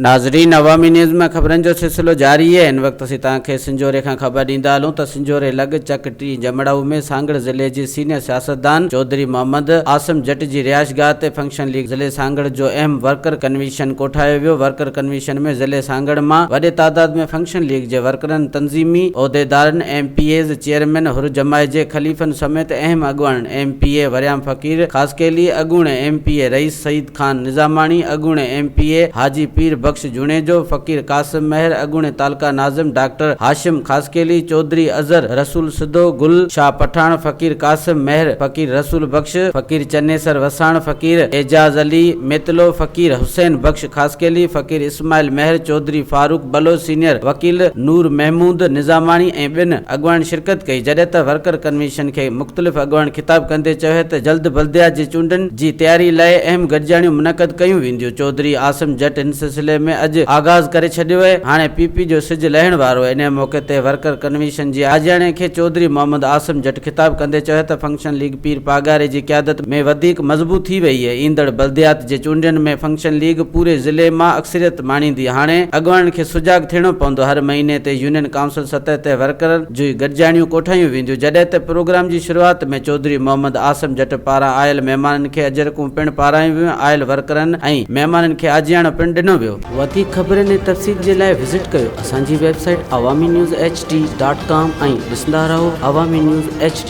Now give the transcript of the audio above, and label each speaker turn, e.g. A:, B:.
A: ناظرين عوامي نيوز ۾ خبرن جو سلسلو جاري آهي هن وقت اسين توهان کي سنجهوري کان خبر ڏيندا هلون ته سنجهوري لڳ چڪ ٽي جمڙائو ۾ سانگهڙ ضلعي جي سينيئر سياستدان چوڌري محمد عاصم جٽ جي رهائشگاهه تي فنڪشن ليگ ضلعي سانگهڙ جو اهم ورڪر ڪنوينشن ڪوٺايو ويو ورڪر ڪنوينشن ۾ ضلعي سانگهڙ مان وڏي تعداد ۾ فنڪشن ليگ جي ڪرن تنظيمي عهديدارن، M P As, chairman Hur جماعت جي خليفن سميت اهم اڳواڻن، M P A Waryam Faqir Khaskheli, اڳوڻي ايم پي اي رئيس سعيد خان نظاماڻي، اڳوڻي M P A Haji Pir Bakhsh Junejo, Faqir Qasim Mehar, اڳوڻي تعلقه ناظم ڊاڪٽر هاشم خاصخيلي، چوڌري اظهر رسول سڌو، گل شاهه پٺاڻ، فقير قاسم مهر، فقير رسول بخش، فقير چنيسر وساڻ، فقير اعجاز علي ميتلو، فقير حسين بخش، خاصخيلي، فقير اسماعيل، مهر چوڌري، فاروق بلوچ، سينيئر وڪيل نور محمود نظاماڻي ۽ ٻين اڳواڻن شرڪت ڪئي، جڏهن ته ورڪر ڪنوينشن کي مختلف اڳواڻن خطاب ڪندي چيو ته جلد بلديات جي چونڊن جي تياري لاء اهم گڏجاڻيون منعقد ڪيون وينديون، چوڌري عاصم جٽ هن سلسلي ۾ اڄ آغاز ڪري ڇڏيو اهي، هاڻي پي پي جو سج لهڻ وارو اهي، انهيء موقعي تي ورڪر ڪنوينشن جي آجياڻي کي چوڌري محمد عاصم جٽ خطاب ڪندي چيو ته فنڪشن. فنڪشن ليگ پير پاڳاري جي قيادت ۾ وڌيڪ مضبوط ٿي وئي. ايندڙ بلديات جي چونڊين ۾ فنڪشن ليگ پوري ضلعي مان اڪثريت ماڻيندي. هاڻي اڳواڻن کي سجاڳ ٿيڻو پوندو. هر مهيني تي يونين ڪائونسل سطح تي ورڪرن جون گڏجاڻيون ڪوٺايون وينديون. جڏهن ته پروگرام جي شروعات ۾ چوڌري محمد عاصم جٽ پاران آيل مهمانن کي اجرڪون پڻ پارايون ويون. آيل ورڪرن ۽ مهمانن کي آجياڻو پڻ ڏنو ويو. وڌيڪ خبرن ۽ تفصيل جي لاء وزٽ ڪيو اسان جي website Awami news H D dot com ۽ ڏسندا رهو عوامي نيوز ايڇ ڊي.